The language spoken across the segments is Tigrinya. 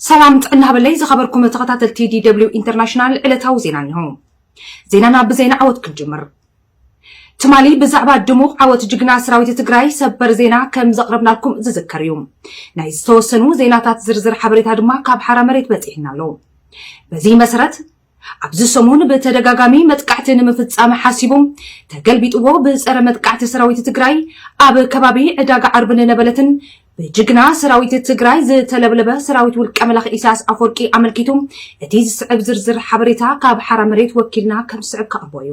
ሰላም ጥዕና በለይ ዝኸበርኩም ተኸታተልቲ ዲደብሊው ኢንተርናሽናል ዕለታዊ ዜና እኒሆ። ዜናና ብዜና ዓወት ክንጅምር። ትማሊ ብዛዕባ ድሙቕ ዓወት ጅግና ሰራዊት ትግራይ ሰበር ዜና ከም ዘቕረብናልኩም ዝዝከር እዩ። ናይ ዝተወሰኑ ዜናታት ዝርዝር ሓበሬታ ድማ ካብ ሓራ መሬት በፂሕና ኣሎ። በዚ መሰረት ኣብዚ ሰሙን ብተደጋጋሚ መጥቃዕቲ ንምፍፃም ሓሲቡ ተገልቢጥዎ ብፀረ መጥቃዕቲ ሰራዊት ትግራይ ኣብ ከባቢ ዕዳጋ ዓርብን ነበለትን ብጅግና ሰራዊት ትግራይ ዝተለብለበ ሰራዊት ውልቀ መላኺ ኢሳያስ ኣፈወርቂ ኣመልኪቱ እቲ ዝስዕብ ዝርዝር ሓበሬታ ካብ ሓራ መሬት ወኪልና ከም ዝስዕብ ክቐርቦ እዩ።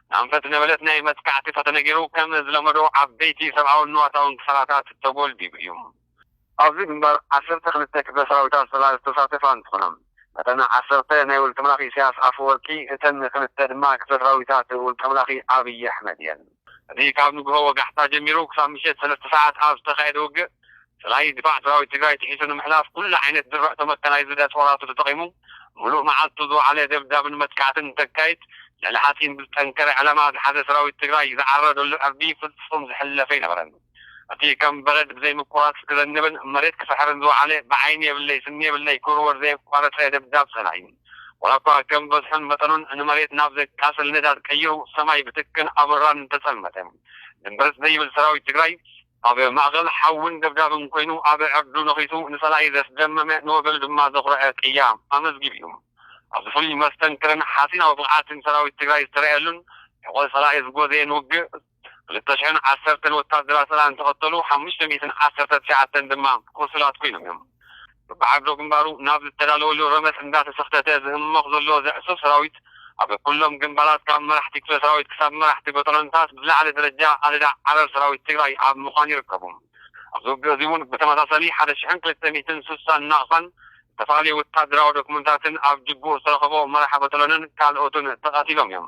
ኣንፈት ነበለት ናይ መጥቃዕቲ ተተነጊሩ ከም ዝለመዶ ዓበይቲ ሰብኣውን ንዋታውን ክሳራታት ተጎልቢቡ እዩ። ኣብዚ ግንባር ዓሰርተ ክልተ ክፍለ ሰራዊታት ሰላር ዝተሳተፋ እንትኾና እተን ዓሰርተ ናይ ውልቀምላኺ ኢሳያስ ኣፈወርቂ እተን ክልተ ድማ ክፍለ ሰራዊታት ውልቀምላኺ ኣብይ ኣሕመድ እየን። እቲ ካብ ንጉሆ ወጋሕታ ጀሚሩ ክሳብ ምሸት ሰለስተ ሰዓት ኣብ ዝተኻየደ ውግእ፣ ጥራይ ድፋዕ ሰራዊት ትግራይ ጥሒሱ ንምሕላፍ ኩሉ ዓይነት ዝረእቶ መካናይዝድ ኣፅዋራቱ ተጠቒሙ ሙሉእ መዓልቱ ዝወዓለ ደብዳብን መጥቃዕትን እንተካይድ ልዕሊ ሓፂን ብዝጠንከረ ዕላማ ዝሓዘ ሰራዊት ትግራይ ዝዓረደሉ ዕርዲ ፍፁም ዝሕለፍ ኣይነበረን። እቲ ከም በረድ ብዘይምቁራፅ ክዘንብን መሬት ክፍሕርን ዝወዓለ ብዓይኒ የብለይ ስኒ የብለይ ክውርወር ዘየቋረፀ ደብዳብ ፀላኢ ዋላ እኳ ከም በዝሑን መጠኑን ንመሬት ናብ ዘቃፅል ንዳድ ቀይሩ ሰማይ ብትክን ኣቦራን እንተፀልመተ ድምብርፅ ዘይብል ሰራዊት ትግራይ ኣብ ማእከል ሓውን ደብዳብን ኰይኑ ኣብ ዕርዱ ነኺሱ ንጸላኢ ዘስደመመ ንወገኑ ድማ ዘኹረዐ ቅያ ኣመዝጊቡ'ዩ። ኣብዚ ፍሉይ መስተንክርን ሓጺናዊ ብቕዓትን ሰራዊት ትግራይ ዝተረኣየሉን ሕቖ ጸላኢ ዝጐዘየን ውግእ ክልተ ሽሕን ዓሰርተን ወታደራት ጸላኢ እንተቐተሉ ሓሙሽተ ሚእትን ዓሰርተ ትሽዓተን ድማ ቁሱላት ኰይኖም'ዮም። በብዓርዶ ግንባሩ ናብ ዝተዳለወሉ ረመፅ እንዳተሰኽተተ ዝህሞኽ ዘሎ ዘዕሱብ ሰራዊት ኣብ ኩሎም ግንባራት ካብ መራሕቲ ክፍለ ሰራዊት ክሳብ መራሕቲ በጠሎንታት ብዝለዓለ ደረጃ ኣደዳ ዓረር ሰራዊት ትግራይ ኣብ ምዃን ይርከቡ። ኣብዚ ውግእ እዚ እውን ብተመሳሳሊ ሓደ ሽሕን ክልተ ሚእትን ስሳን ናቕፋን ዝተፈላለዩ ወታደራዊ ዶክመንታትን ኣብ ጅቡኡ ዝተረኸቦ መራሒ በጠሎንን ካልኦትን ተቐቲሎም እዮም።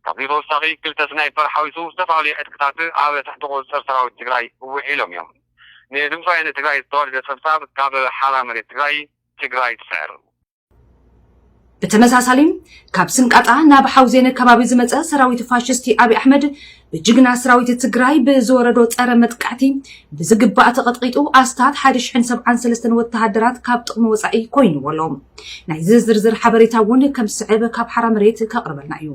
ካብዚ ብተወሳኺ ክልተ ስናይፐር ሓዊሱ ዝተፈላለዩ ዕጥቅታት ኣብ ትሕቲ ቁፅፅር ሰራዊት ትግራይ ውዒሎም እዮም። ንድምፃዊ ንትግራይ ዝተወልደ ፀብፃብ ካብ ሓራ መሬት ትግራይ ትግራይ ትስዕር! ብተመሳሳሊ ካብ ስንቃጣ ናብ ሓውዜነ ከባቢ ዝመፀ ሰራዊት ፋሽስቲ ኣብይ ኣሕመድ ብጅግና ስራዊት ትግራይ ብዝወረዶ ፀረ መጥቃዕቲ ብዝግባእ ተቐጥቒጡ ኣስታት ሓደ ሽሕን ሰብዓን ሰለስተን ወተሃደራት ካብ ጥቕሚ ወፃኢ ኮይንዎ ኣሎ። ናይዚ ዝርዝር ሓበሬታ እውን ከም ዝስዕብ ካብ ሓራ መሬት ከቕርበልና እዩ።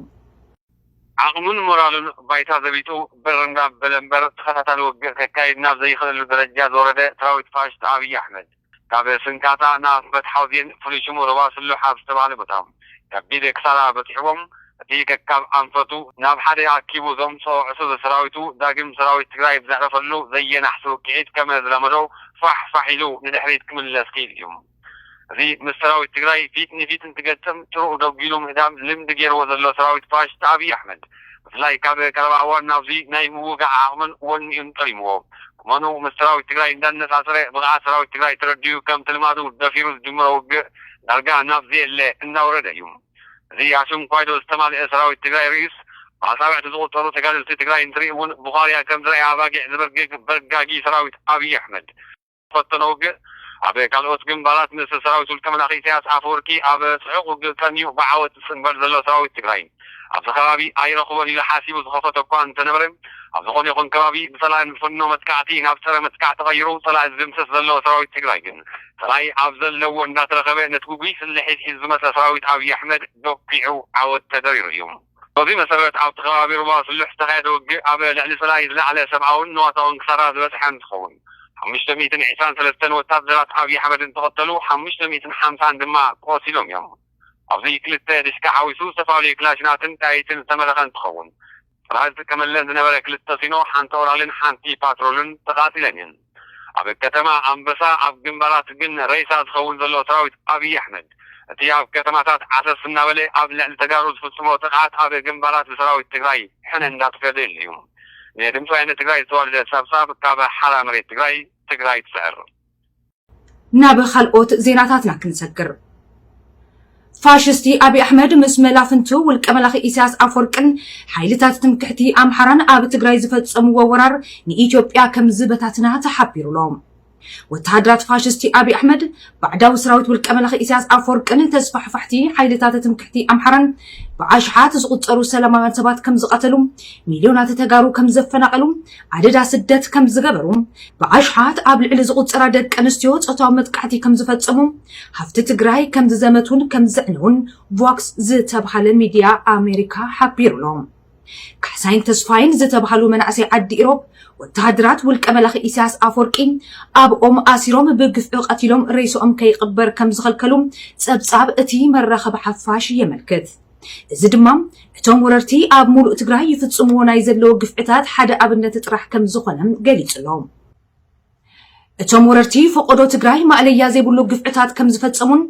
ዓቕሙን ሞራሉን ባይታ ዘቢጡ ብር ናብ በለ እምበር ተኸታታሊ ውግእ ከካይድ ናብ ዘይኽእለሉ ደረጃ ዝወረደ ሰራዊት ፋሽስት ኣብይ ኣሕመድ ካብ ስንካታ ንኣፍበት ሓውዜን ፍሉይ ሽሙ ሩባ ስሉሕ ኣብ ዝተባህለ ቦታ ከቢድ ክሳራ በፂሑዎም እቲ ከካብ ኣንፈቱ ናብ ሓደ ኣኪቡ ዘምፅኦ ዕሱብ ሰራዊቱ ዳግም ሰራዊት ትግራይ ብዘዕረፈሉ ዘየናሕሲ ውቅዒት ከም ዝለመዶ ፋሕ ፋሕ ኢሉ ንድሕሪት ክምለስ ክኢሉ እዩ። እዚ ምስ ሰራዊት ትግራይ ፊት ንፊት እንትገጥም ጭርኡ ደጒሉ ምህዳም ልምዲ ገይርዎ ዘሎ ሰራዊት ፋሽስት ኣብይ ኣሕመድ ብፍላይ ካብ ቀረባ እዋን ናብዚ ናይ ምውጋእ ዓቕምን ወኒኡን ጠሊምዎ ቁመንኡ ምስ ሰራዊት ትግራይ እንዳነፃፀረ ብቕዓት ሰራዊት ትግራይ ተረዲኡ ከምቲ ልማዱ ደፊሩ ዝጅምሮ ውግእ ዳርጋ ናብ ዘየለ እንዳወረደ እዩ። እዚ ኣሽንኳይዶ ዝተማልኤ ሰራዊት ትግራይ ርእዩስ ብኣፃብዕቲ ዝቑፀሩ ተጋደልቲ ትግራይ እንትርኢ እውን ቡዃርያ ከምዝረኣያ ኣባጊዕ ዝበርግግ በርጋጊ ሰራዊት ኣብይ ኣሕመድ ፈተነ ውግእ ኣብ ካልኦት ግንባራት ምስ ሰራዊት ውልቀመላኺ ኢሳያስ ኣፈወርቂ ኣብ ጽዑቕ ውግእ ቀንዩ ብዓወት ዝጽንበር ዘሎ ሰራዊት ትግራይ ኣብዚ ከባቢ ኣይረኽቦን ኢሉ ሓሲቡ ዝኸፈቶ እኳ እንተነበረ ኣብ ዝኾነ ይኹን ከባቢ ብጸላኢ ዝፍኖ መጥቃዕቲ ናብ ጸረ መጥቃዕ ተቐይሩ ጸላኢ ዝድምስስ ዘሎ ሰራዊት ትግራይ ግን ጸላኢ ኣብ ዘለዎ እንዳተረኸበ ነቲ ጉጉይ ስልሒት ሒዙ ዝመጸ ሰራዊት ኣብይ ኣሕመድ ዶኪዑ ዓወት ተደሪሩ እዩ። በዚ መሰረት ኣብቲ ከባቢ ሩባ ስሉሕ ዝተኻየደ ውግእ ኣብ ልዕሊ ሰላዪ ዝለዓለ ሰብኣውን ንዋታውን ክሳራ ዝበፅሐ እንትኸውን ሓሙሽተ ሚእትን ዒስራን ሰለስተን ወታደራት ኣብዪ ኣሕመድ እንትቐተሉ ሓሙሽተ ሚእትን ሓምሳን ድማ ቆሲሎም እዮም። ኣብዚ ክልተ ዲሽቃ ሓዊሱ ዝተፈላለዩ ክላሽናትን ጥያይትን ዝተመረቐ እንትኸውን ጥርሃ ዝጥቀመለን ዝነበረ ክልተ ሲኖ፣ ሓንቲ ኦራልን ሓንቲ ፓትሮልን ተቓፂለን እየን። ኣብ ከተማ ኣንበሳ ኣብ ግንባራት ግን ሬሳ ዝኸውን ዘሎ ሰራዊት ኣብይ ኣሕመድ እቲ ኣብ ከተማታት ዓሰስ እናበለ ኣብ ልዕሊ ተጋሩ ዝፍፅሞ ጥቕዓት ኣብ ግንባራት ብሰራዊት ትግራይ ሕነ እንዳተፈደየሉ እዩ። ንድምፂ ወያነ ትግራይ ዝተዋደደ ፀብፃብ ካብ ሓራ መሬት ትግራይ ትግራይ ትስዕር! ናብ ኻልኦት ዜናታትና ክንሰግር። ፋሽስቲ ኣብይ ኣሕመድ ምስ መላፍንቱ ውልቀ መላኺ ኢሳያስ ኣፍወርቅን ሓይልታት ትምክሕቲ ኣምሓራን ኣብ ትግራይ ዝፈጸምዎ ወራር ንኢትዮጵያ ከም ዝበታትና ተሓቢሩ'ሎ። ወተሃደራት ፋሽስቲ ኣብይ ኣሕመድ፣ ባዕዳዊ ሰራዊት ውልቀ መላኺ ኢሳያስ ኣፍወርቅን ተስፋሕፋሕቲ ሓይልታት ትምክሕቲ ኣምሓራን ብኣሽሓት ዝቑጸሩ ሰላማውያን ሰባት ከም ዝቐተሉ፣ ሚልዮናት ተጋሩ ከም ዘፈናቐሉ፣ ኣደዳ ስደት ከም ዝገበሩ፣ ብኣሽሓት ኣብ ልዕሊ ዝቑጸራ ደቂ ኣንስትዮ ጾታዊ መጥቃዕቲ ከም ዝፈጸሙ፣ ሃፍቲ ትግራይ ከም ዝዘመቱን ከም ዘዕነዉን ቮክስ ዝተብሃለ ሚድያ ኣሜሪካ ሓቢሩ ኣሎ። ካሕሳይን ተስፋይን ዝተብሃሉ መናእሰይ ዓዲ ኢሮብ፣ ወተሃደራት ውልቀ መላኺ ኢሳያስ ኣፍወርቂ ኣብ ኦም ኣሲሮም ብግፍዒ ቀቲሎም ሬስኦም ከይቕበር ከም ዝኸልከሉ ጸብጻብ እቲ መራኸቢ ሓፋሽ የመልክት። እዚ ድማ እቶም ወረርቲ ኣብ ሙሉእ ትግራይ ይፍፅምዎ ናይ ዘለዉ ግፍዕታት ሓደ ኣብነት ጥራሕ ከምዝኾነ ገሊፁ'ሎ። እቶም ወረርቲ ፎቖዶ ትግራይ ማእለያ ዘይብሉ ግፍዕታት ከምዝፈፀሙን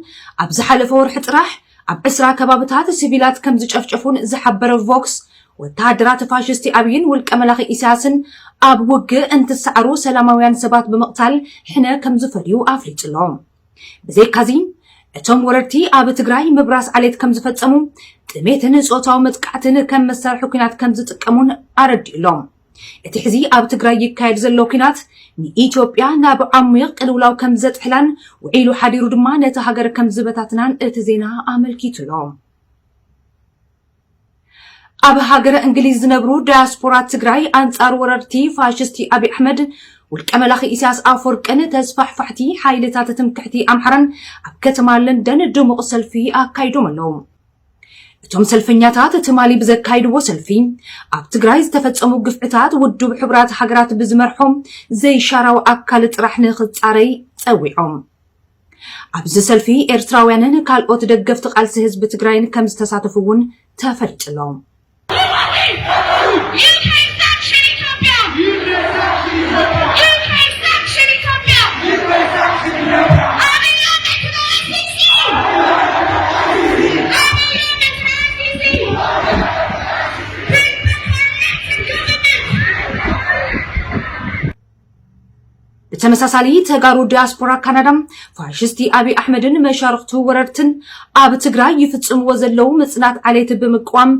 ኣብ ዝሓለፈ ወርሒ ጥራሕ ኣብ ዕስራ ከባብታት ስቪላት ከምዝጨፍጨፉን ዝሓበረ ቮክስ ወተሃደራት ፋሽስቲ ኣብይን ውልቀ መላኺ ኢሳያስን ኣብ ውግእ እንትሰዓሩ ሰላማውያን ሰባት ብምቕታል ሕነ ከምዝፈድዩ ኣፍሊጡ'ሎ። ብዘይካዚ እቶም ወረርቲ ኣብ ትግራይ ምብራስ ዓሌት ከም ዝፈጸሙ፣ ጥሜትን ጾታዊ መጥቃዕትን ከም መሳርሒ ኩናት ከም ዝጥቀሙን ኣረዲኡ ኣሎ። እቲ ሕዚ ኣብ ትግራይ ይካየድ ዘሎ ኩናት ንኢትዮጵያ ናብ ዓሚቕ ቅልውላው ከም ዘጥሕላን ውዒሉ ሓዲሩ ድማ ነቲ ሃገር ከም ዝበታትናን እቲ ዜና ኣመልኪቱ ኣሎ። ኣብ ሃገረ እንግሊዝ ዝነብሩ ዳያስፖራ ትግራይ ኣንጻር ወረርቲ ፋሽስቲ ኣብይ ኣሕመድ ውልቀ መላኺ ኢሳያስ ኣፈወርቅን ተስፋሕፋሕቲ ሓይልታት ትምክሕቲ ኣምሓራን ኣብ ከተማ ለንደን ድሙቕ ሰልፊ ኣካይዶም ኣለዉ። እቶም ሰልፈኛታት ትማሊ ብዘካይድዎ ሰልፊ ኣብ ትግራይ ዝተፈጸሙ ግፍዕታት ውድብ ሕቡራት ሃገራት ብዝመርሖም ዘይሻራዊ ኣካል ጥራሕ ንኽጻረይ ጸዊዖም። ኣብዚ ሰልፊ ኤርትራውያንን ካልኦት ደገፍቲ ቃልሲ ህዝቢ ትግራይን ከም ዝተሳተፉ እውን ተፈሊጡ'ሎ። ብተመሳሳሊ ተጋሩ ዲያስፖራ ካናዳ ፋሽስቲ ኣብይ ኣሕመድን መሻርኽቱ ወረርትን ኣብ ትግራይ ይፍጽምዎ ዘለዉ ምጽናት ዓሌት ብምቅዋም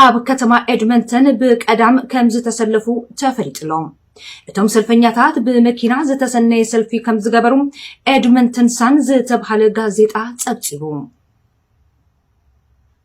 ኣብ ከተማ ኤድመንተን ብቀዳም ከም ዝተሰለፉ ተፈሊጡ ኣሎ። እቶም ሰልፈኛታት ብመኪና ዝተሰነየ ሰልፊ ከም ዝገበሩ ኤድመንተን ሳን ዝተብሃለ ጋዜጣ ጸብጺቡ።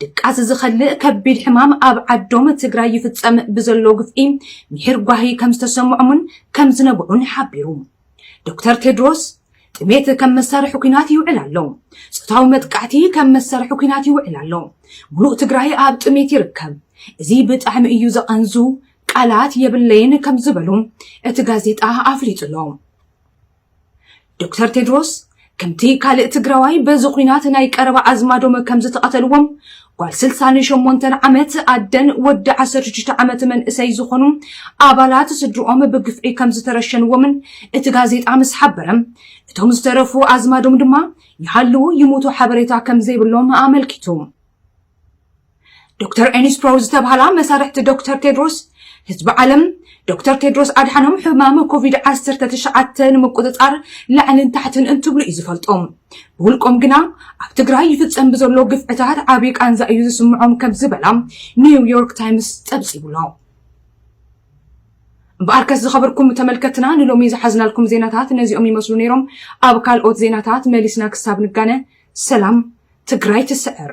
ድቃስ ዝኸልእ ከቢድ ሕማም ኣብ ዓዶም ትግራይ ይፍፀም ብዘሎ ግፍዒ ሚሒር ጓሂ ከምዝተሰምዖሙን ከምዝነብዑን ሓቢሩ። ዶክተር ቴድሮስ፣ ጥሜት ከም መሳርሒ ኲናት ይውዕል ኣሎ። ፆታዊ መጥቃዕቲ ከም መሳርሒ ኲናት ይውዕል ኣሎ። ሙሉእ ትግራይ ኣብ ጥሜት ይርከብ። እዚ ብጣዕሚ እዩ ዘቐንዙ፣ ቃላት የብለይን ከምዝበሉ እቲ ጋዜጣ ኣፍሊጡ'ሎ። ዶክተር ቴድሮስ ከምቲ ካልእ ትግራዋይ በዚ ኹናት ናይ ቀረባ ኣዝማዶም ከም ዝተቐተልዎም ጓል ስልሳን ሸሞንተን ዓመት ኣደን ወዲ ዓሰርተ ሽዱሽተ ዓመት መንእሰይ ዝኾኑ ኣባላት ስድርኦም ብግፍዒ ከም ዝተረሸንዎምን እቲ ጋዜጣ ምስ ሓበረ እቶም ዝተረፉ ኣዝማዶም ድማ ይሃልዉ ይሙቱ ሓበሬታ ከም ዘይብሎም ኣመልኪቱ ዶክተር ኤኒስፕሮ ዝተብሃላ መሳርሕቲ ዶክተር ቴድሮስ ህዝቢ ዓለም ዶክተር ቴድሮስ ኣድሓኖም ሕማም ኮቪድ ዓሰርተ ትሽዓተ ንምቁፅፃር ላዕልን ታሕትን እንትብሉ እዩ ዝፈልጦም ብውልቆም ግና ኣብ ትግራይ ይፍፀም ብዘሎ ግፍዕታት ዓብዪ ቃንዛ እዩ ዝስምዖም ከም ዝበላ ኒውዮርክ ታይምስ ፀብፂቡሎ እምበኣር ከስ ዝኸበርኩም ተመልከትና ንሎሚ ዝሓዝናልኩም ዜናታት ነዚኦም ይመስሉ ነይሮም ኣብ ካልኦት ዜናታት መሊስና ክሳብ ንጋነ ሰላም ትግራይ ትስዕር